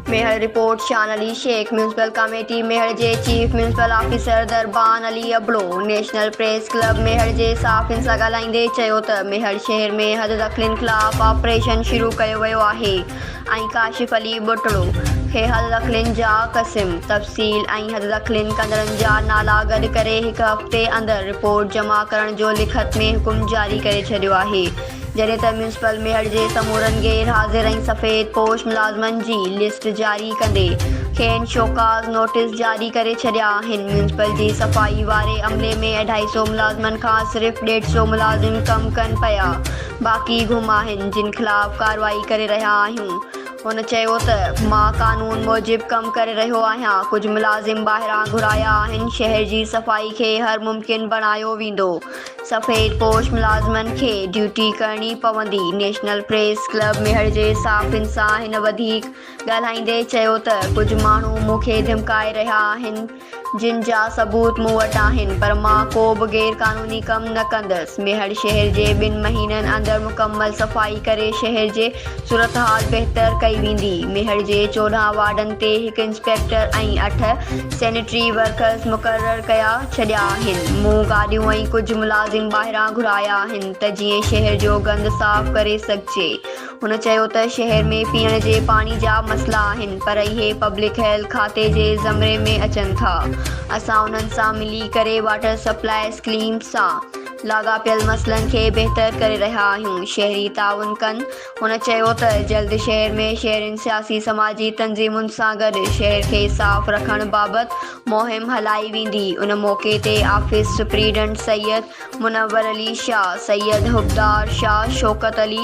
Mehar, report, Shan Ali Shaikh, municipal committee Mehar جي chief municipal officer Darban Ali Abro national press club Mehar جي صحافين سان ڳالهائيندي چيو ته ميهڙ شهر ۾ حد دخلين خلاف آپريشن شروع ڪيو ويو آهي ۽ ڪاشف علي ٻٽڙو کي حد دخلين جا قسم، سيل ۽ حد دخلين ڪندڙن جا نالا گڏ ڪري هڪ هفتي اندر رپورٽ جمع ڪرڻ جو لکت ۾ حڪم جاري ڪري ڇڏيو آهي جڏهن ته ميونسپل ميهڙ جي سمورن غير حاضر ۽ سفيد پوش ملازمن جي لسٽ جاري ڪندي کين شوڪاز نوٽيس جاري ڪري ڇڏيا آهن ميونسپل جي صفائي واري عملي ۾ اڍائي سئو ملازمن کان صرف ڏيڍ سئو ملازم ڪم ڪن پيا باقي گم آهن جن خلاف ڪارروائي ڪري رهيا آهيون هن چيو ته مان قانون موجب ڪم ڪري رهيو آهيان، ڪجهه ملازم ٻاهران گهرايا آهن، شهر جي صفائي کي هر ممڪن بڻايو ويندو، سفيد پوش ملازمن کي ڊيوٽي ڪرڻي پوندي، نيشنل پريس ڪلب ميهڙ جي صحافين سان هن وڌيڪ ڳالهائيندي چيو ته ڪجهه ماڻهو مون کي ڌمڪائي رهيا آهن، جن جا ثبوت مون وٽ آهن پر مان ڪو به غير قانوني ڪم نه ڪندس، ميهڙ شهر جي ٻن مهينن اندر مڪمل صفائي ڪري شهر جي صورتحال بهتر ڪئي ويندي، ميهڙ جي چوڏهن وارڊن تي هڪ انسپيڪٽر ۽ اٺ سينيٽري ورڪرز مقرر ڪيا ڇڏيا آهن، مون گاڏيون ۽ ڪجهه ملازم ٻاهران گهرايا آهن ته جيئن شهر جو گند صاف ڪري سگهجي، هن چيو ته شهر ۾ پيئڻ جي پاڻي جا مسئلا آهن پر اهي پبلڪ هيلٿ کاتي جي زمري ۾ اچن ٿا، اسان انهن سان ملي ڪري واٽر سپلاء اسڪليمز سان لاڳاپيل مسئلن کي بهتر ڪري رهيا آهيون، شهري تعاون ڪن، هن چيو ته جلد شهر ۾ شهرين سياسي سماجي تنظيمن سان گڏ شهر کي صاف رکڻ بابت مهم هلائي ويندي، ان موقعي تي آفيس سپريڊنٽ سيد منور علي شاهه، سيد حبدار شاهه، شوڪت علي.